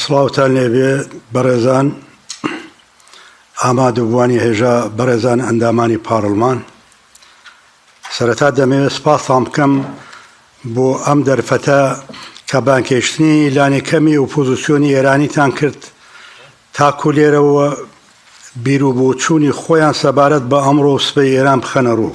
سڵاوتان لێبێ بەڕێزان ئامادەبووانی هێژا بەڕێزان ئەندامانی پاڕلمان سەرەتا دەمەوێت سپاسان بکەم بۆ ئەم دەرفەتە کە بانکێشتنی لانێکەمی و پۆزیسیۆنی ئێرانیتان کرد تاکو لێرەوە بیر و بۆچوونی خۆیان سەبارەت بە ئەمڕۆ سبەی ئێران بخەنە ڕوو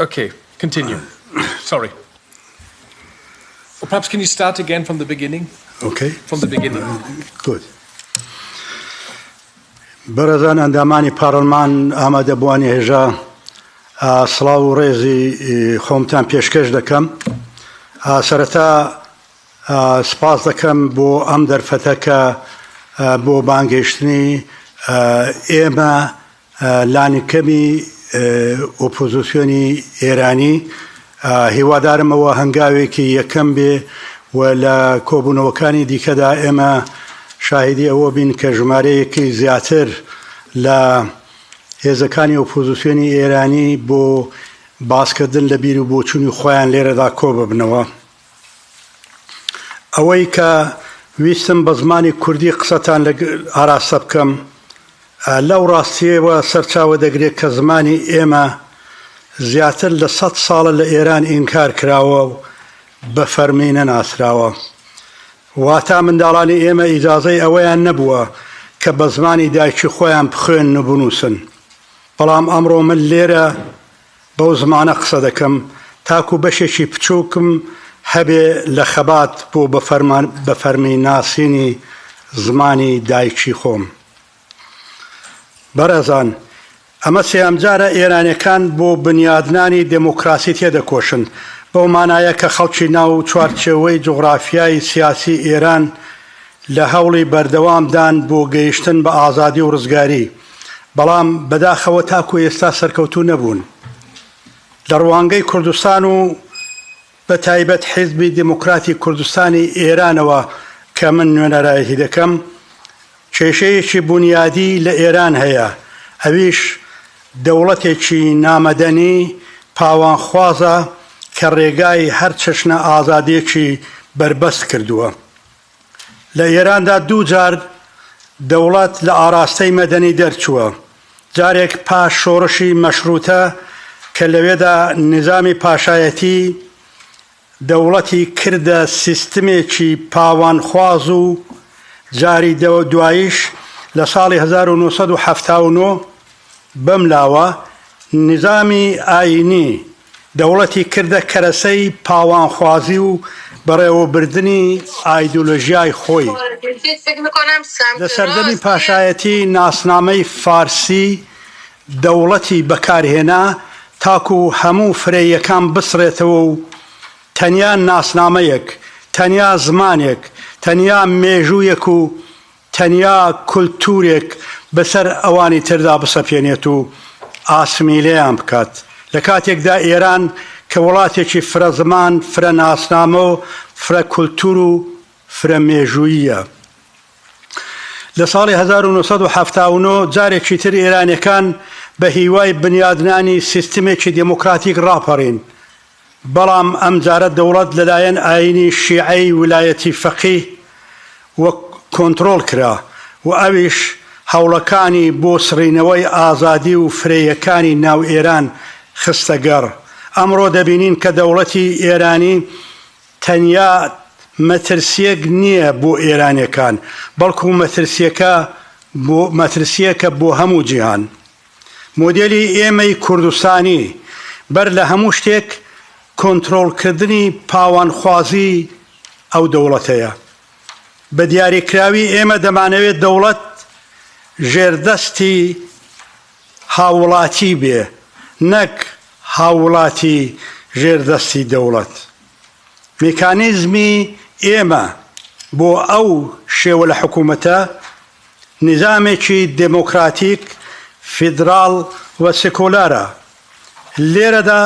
ئۆکەی کەنتینیو سۆری پەپس کەنی ستارت ئەگەین فڕۆم دە بگینینگ ئۆکەی فڕۆم دە بگینینگ گود بەڕێزان ئەندامانی پاڕلمان ئامادە بووانی هێژا سڵاو و ڕێزی خۆمتان پێشکەش دەکەم سەرەتا سپاس دەکەم بۆ ئەم دەرفەتەکە بۆ بانگەشتنی ئێمە لانیکەمی ئۆپۆزسیۆنی ئێرانی هیوادارم ئەوە هەنگاوێکی یەکەم بێ و لە کۆبوونەوەکانی دیکەدا ئێمە شاهدی ئەوە بین کە ژمارەیەکی زیاتر لە هێزەکانی ئۆپۆزسیۆنی ئێرانی بۆ باسکردن لە بیر و بۆچوونی خۆیان لێرەدا کۆ ببنەوە. ئەوەی کە ویستم بە زمانی کوردی قسەتان لە ئاراستە بکەم لەو ڕاستیەوە سەرچاوە دەگرێت کە زمانی ئێمە زیاتر لە سە ساڵە لە ئێران ئینکار کراوە و بە فەرمی نەناسراوە. واتا منداڵانی ئێمە ئیجاازەی ئەوەیان نەبووە کە بە زمانی دایکی خۆیان بخوێن و بنووسن. بەڵام ئەمڕۆ من لێرە بەو زمانە قسە دەکەم تاکو بەشێکی بچووکم هەبێ لە خەبات بۆ بە فەرمی ناسینی زمانی دایکی خۆم. بەڕێزان، ئەمە سێیەم جارە ئێرانیەکان بۆ بنیادنانی دێمۆکڕاسی تێدەکۆشن، بەو مانایە کە خەڵکی ناو چوارچێوەی جوغڕافیای سیاسی ئێران لە هەوڵی بەردەوام دان بۆ گەیشتن بە ئازادی و ڕزگاری. بەڵام بەداخەوە تاکو ئێستا سەرکەوتوو نەبوون. لە ڕوانگەی کوردستان و بە تایبەت حیزبی دیموکراتی کوردستانی ئێرانەوە کە من نوێنەرایەتی دەکەم، کێشەیەکی بونیادی لە ئێران هەیە، ئەویش دەوڵەتێکی نامەدەنی پاوانخوازە کە ڕێگای هەر چەشنە ئازادییەکی بەربەست کردووە. لە ئێراندا دوو جار دەوڵەت لە ئاراستەی مەدەنی دەرچووە، جارێک پاش شۆڕشی مەشڕووتە کە لەوێدا نیزامی پاشایەتی دەوڵەتی کردە سیستمێکی پاوانخواز و جاری دواییش لە ساڵی هەزار و نۆ سەد و حەفتا و نۆ بەملاوە نیزامی ئایینی دەوڵەتی کردە کەرەسەی پاوانخوازی و بەڕێوەبردنی ئایدۆلۆژیای خۆی. لە سەردەمی پاشایەتی ناسنامەی فارسی دەوڵەتی بەکارهێنا تاکو هەموو فرەییەکان بسڕێتەوە و تەنیا ناسنامەیەک، تەنیا زمانێک، تەنیا مێژوویەک و تەنیا کولتوورێک بەسەر ئەوانی تردا بسەپێنێت و ئاسمیلەیان بکات، لە کاتێکدا ئێران کە وڵاتێکی فرە زمان، فرە ناسنامە و فرە کولتوور و فرە مێژووییە. لە ساڵی هەزار و نۆ سەد و حەفتا و نۆ جارێکی تر ئێرانیەکان بە هیوای بنیادنانی سیستمێکی دێمۆکڕاتیک ڕاپەڕین، بەڵام ئەمجارە دەوڵەت لەلایەن ئایینی شیعەی ولایەتی فەقی و کۆنتڕۆڵ کرا و ئەویش هەوڵەکانی بۆ سڕینەوەی ئازادی و فرەیەکانی ناو ئێران خستە گەڕ. ئەمڕۆ دەبینین کە دەوڵەتی ئێرانی تەنیا مەترسییەک نییە بۆ ئێرانییەکان، بەڵکوو مەترسییەکە بۆ مەترسییەکە بۆ هەموو جیهان. مۆدێلی ئێمەی کوردستانی بەر لە هەموو شتێک کۆنترۆڵکردنی پاوانخوازیی ئەو دەوڵەتەیە. بە دیاریکراوی ئێمە دەمانەوێت دەوڵەت ژێردەستی هاووڵاتی بێ، نەک هاووڵاتی ژێردەستی دەوڵەت. میکانیزمی ئێمە بۆ ئەو شێوە لە حکوومەتە، نیزامێکی دێمۆکڕاتیک، فیدڕاڵ و سکۆلارە. لێرەدا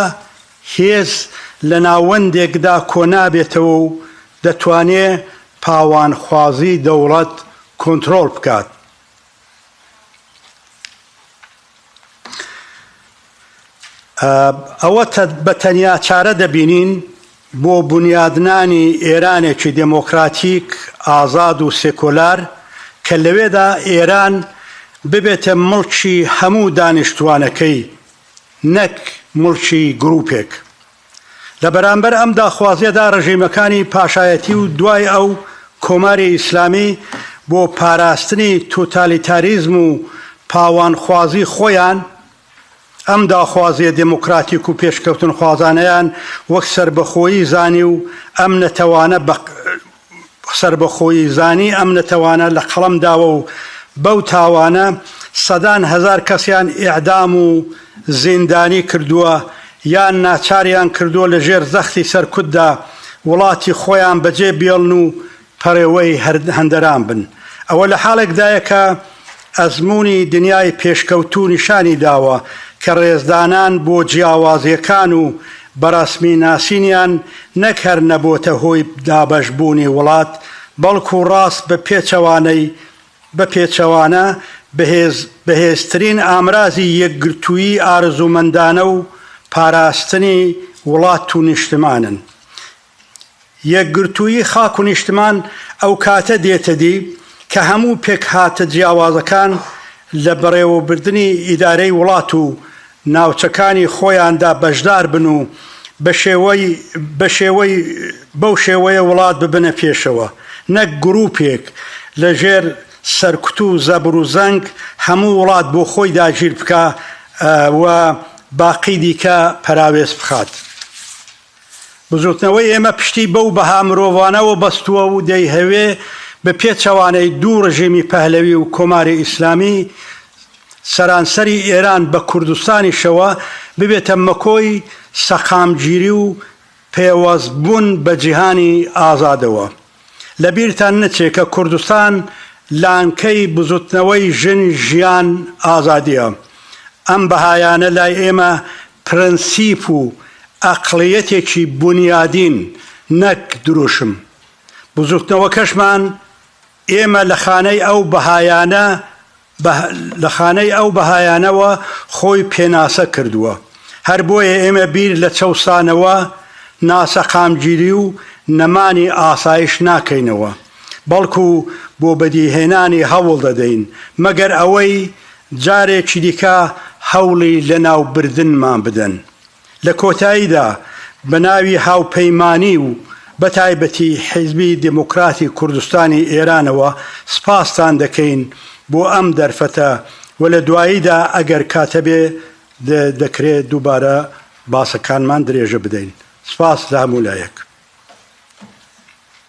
هێز لە ناوەندێکدا کۆنابێتەوە و دەتوانێ پاوانخوازی دەوڵەت کۆنتڕۆڵ بکات. ئەوە بە تەنیا چارە دەبینین بۆ بنیادنانی ئێرانێکی دێمۆکراتیک، ئازاد و سێکۆلار کە لەوێدا ئێران ببێتە مڵکی هەموو دانیشتووانەکەی نەک مڵکی گرووپێک. لە بەرامبەر ئەم داخوازیەدا ڕژیمەکانی پاشایەتی و دوای ئەو کۆماری ئیسلامی بۆ پاراستنی توتالیتاریزم و پاوانخوازی خۆیان ئەم داخوازیە دێمۆکراتیک و پێشکەوتنخوازانەیان وەک سەربەخۆیی زانی و ئەم نەتەوانە بە سەربەخۆیی زانی ئەم نەتەوانە لە قەڵەم داوە و بەو تاوانە سەدان هەزار کەسیان ئێعدام و زیندانی کردووە یان ناچاریان کردووە لە ژێر زەختی سەرکوتدا وڵاتی خۆیان بەجێ بێڵن و پەڕێوەی هەندەران بن. ئەوە لە حاڵێکدایە کە، ئەزموونی دنیای پێشکەوتوو نیشانی داوە کە ڕێزدانان بۆ جیاوازییەکان و بەڕەسمی ناسینیان نەک هەر نەبۆتە هۆی دابەشبوونی وڵات، بەڵکوو ڕاست بە پێچەوانەی بە پێچەوانە بەهێز بەهێزترین ئامرازی یەکگرتوویی ئارزوومەندانە و پاراستنی وڵات و نیشتمانن. یەکگرتوویی خاک و نیشتمان ئەو کاتە دێتە دی کە هەموو پێکهاتە جیاوازەکان لە بەڕێوەبردنی ئیدارەی وڵات و ناوچەکانی خۆیاندا بەشدار بن و بە شێوەی بە شێوەی بەو شێوەیە وڵات ببنە پێشەوە نەک گرووپێک لە ژێر سەرکوت و زەبر و زەنگ هەموو وڵات بۆ خۆی داگیر بکا و باقی دیکە پەراوێز بخات. بزوتنەوەی ئێمە پشتی بەو بەها مرۆڤانەوە بەستووە و دەیهەوێ بە پێچەوانەی دوو ڕژێمی پەهلەوی و کۆماری ئیسلامی سەرانسەری ئێران بە کوردستانیشەوە ببێتە مەکۆی سەقامگیری و پێوەستبوون بە جیهانی ئازادەوە. لە بیرتان نەچێ کە کوردستان لانکەی بزوتنەوەی ژن، ژیان، ئازادیە. ئەم بەهایانە لای ئێمە پرەنسیپ و ئەقڵیەتێکی بونیادین نەک دروشم. بزوتنەوەکەشمان ئێمە لە خانەی ئەو بەهایانە بە لە خانەی ئەو بەهایانەوە خۆی پێناسە کردووە. هەر بۆیە ئێمە بیر لە چەوسانەوە، ناسەقامگیری و نەمانی ئاسایش ناکەینەوە، بەڵکو بۆ بەدیهێنانی هەوڵ دەدەین، مەگەر ئەوەی جارێکی دیکە هەوڵی لەناوبردنمان بدەن. لە کۆتاییدا بە ناوی هاوپەیمانی و بە تایبەتی حیزبی دێموکراتی کوردستانی ئێرانەوە سپاستان دەکەین بۆ ئەم دەرفەتە و لە دواییدا ئەگەر کاتەبێ دەکرێ دووبارە باسەکانمان درێژە بدەین. سپاس لە هەموو لایەک.